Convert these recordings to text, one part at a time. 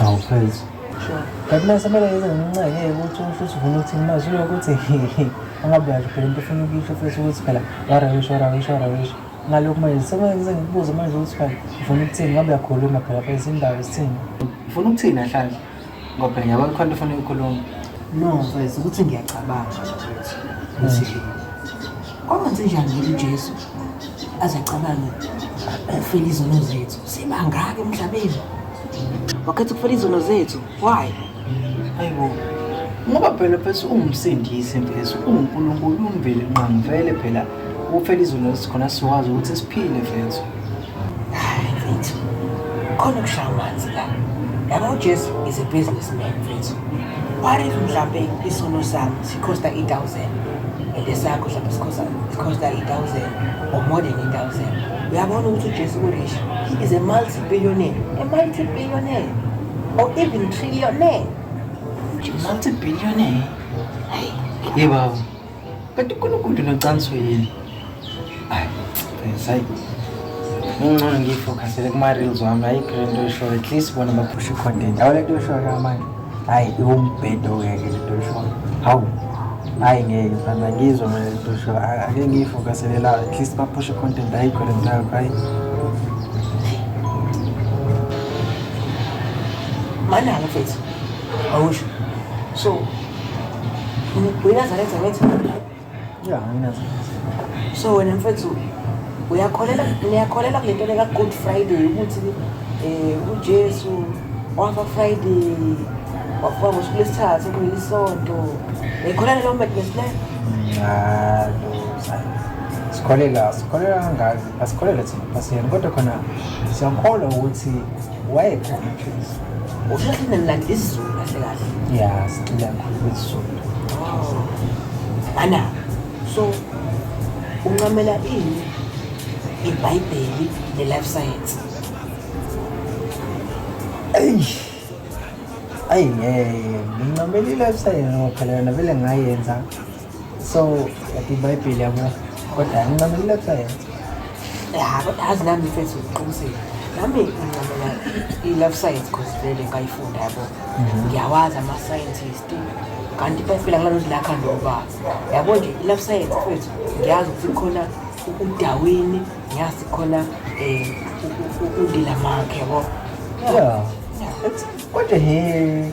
awuphezi kanti mase kumele yenze ngenxenye yokuthi umfuthu ufuna ukuthi imazwi yokuthi angabe uyasho phela into ofuna ukuyisho futhi ukuthi phela warawisho warawisho warawisho ngalokhu manje sekumele ngize ngikubuze manje ukuthi phela ufuna ukuthini ngabe uyakhuluma phela phela izindaba zithini ufuna ukuthini ahlanhla Ngoba yabo khona into ofuna ukukhuluma. No, mfethu ukuthi ngiyacabanga mfethu. Ukuthi kwangenze njani ukuthi uJesu aze acabange ukufela izono zethu. Sibangaki emhlabeni? Wakhetha ukufela izono zethu. Why? Hayibo. Ngoba phela mfethu ungumsindisi mfethu, unguNkulunkulu, umveli nqamvele phela. Ukufela izono zethu khona siwazi ukuthi siphile mfethu. Hayi mfethu, khona ukushaya amanzi la. Yabo uJesu is a businessman mfethu. What if mhlampe isono sami sikhosta i-thousand and esakho mhlampe sikhosta sikhosta i-thousand or more than i-thousand. Uyabona ukuthi uJesu urish. He is a multi-billionaire, a multi-billionaire or even trillionaire. Multi-billionaire. Hey, baba. Kanti uNkulunkulu nocansi yini? Hayi, sayi. Ngingcono ngiyifocusele kuma-reels wami, ayikho le nto oyishoyo. At least bona baphusha i-content. Awu le nto oyishoyo ka manje. Hayi, iwumbhedo-ke ke le nto oyishoyo. Hawu. Hayi ngeke mfana, ngizwa mina le nto oyishoyo. A- Ake ngiyifocusele la, at least baphusha i-content. Ayikho le nto yakho, hayi. Manala mfethu. Awusho. So, uyinazaretha wethu ya nginazaretha so wena mfethu uyakholela niyakholela kule nto leka-good friday ukuthi um ujesu wafa friday wafa ngosuku lesithathu kuyilisonto niyikholela leyo madness leyo sikholela sikholela kangaki asikholelwe thina pasiyena kodwa khona siyakholwa ukuthi wayekhona ujesu usheshe nilanda isizulu kahle kahle ya sicila kakhulu kwesizulu ana so uncamela ini ibhayibheli ne-life science eyi ayi ngeke ngincamela i-life science ngoba phela yona vele ngayenza so yathi ibhayibheli yabo kodwa ngincamela sayense ya kodwa azi nami mfethu uqinisile nami ngincamela i-love science cause vele ngayifunda yabo mhm. ngiyawazi ama-scientist kanti ibhayibheli angalodli lakha ndoba yabo nje i-love science mfethu ngiyazi ukuthi khona udawini ngiyazi khona um undila makhe yabo Yeah. It's what the hell?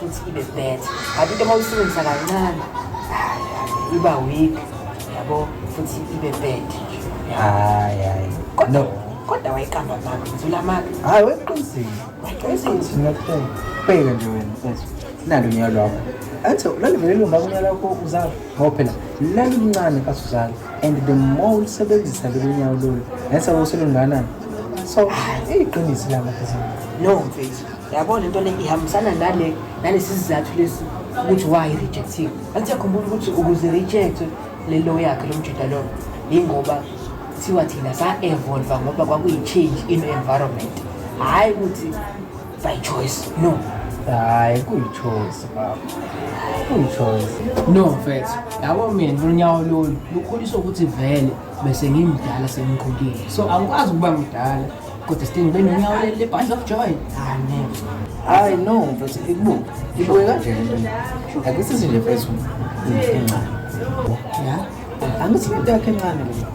futhi ibe better but into uma uyisebenzisa kancane iba weak yabo futhi ibe bad hayi hayi no kodwa wayiqamba maka ngizula maka hayi weqinisile weqinisile ngiyakutshela bheka nje wena mfethu nalo nyaka lwakho athi lalivele lomba kunyaka lwakho uzala ngoba phela lalumncane kasuzala and the more ulisebenzisa lolu nyawo lolu nese woselunganani so iyiqiniso lama no mfethu yabo le nto le ihambisana nale nalesi sizathu lesi ukuthi why rejectiwe anti yakhumbula ukuthi ukuze rejectwe le lo yakhe lo mjida lowo yingoba kuthiwa thina sa-evolva ngoba kwakuyi-change in environment hhayi ukuthi by choice no hayi kuyi-choice baba kuyi-choice no mfethu yabo mina lunyawo lolu lukhuliswa ukuthi vele bese ngimdala sengikhulile so angikwazi ukuba mdala Kodwa Sting ube nonyawo leli lebhadla of joy. Ah never. Hayi no mfethu ibuke. Ibuke kanje le nto. Akisizi nje mfethu. Incinca. Ya. Angithi into yakhe encane le.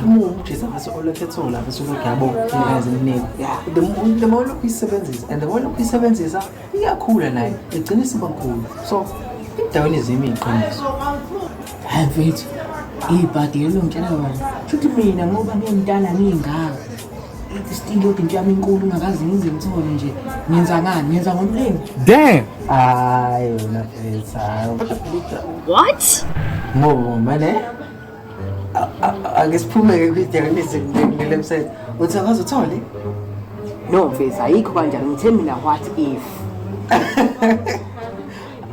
Uma umjisa bese olokhu ethola bese ulokhu yabo izinto eziningi. The more the more lokhu isebenzisa and the more lokhu isebenzisa iyakhula nayo igcina isibakhulu so endaweni zimi iqiniso hayi mfethu ibhadi elongitshela kona shuthi mina ngoba ngiyimntana ngiyingaka still yodwa into yami inkulu ngakaze ngize ngithole nje ngenza ngani ngenza ngomlingo damn hayi wena mfethu what ngoba manje ake siphume-ke kwidiyanisi ngilele msebenzi uthi akaze uthole no mfethu ayikho kanjani ngithe mina what if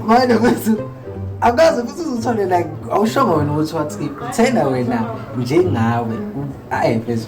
manje futhi akaze futhi uzothole like awushongo wena ukuthi what if thena wena njengawe ayi mfethu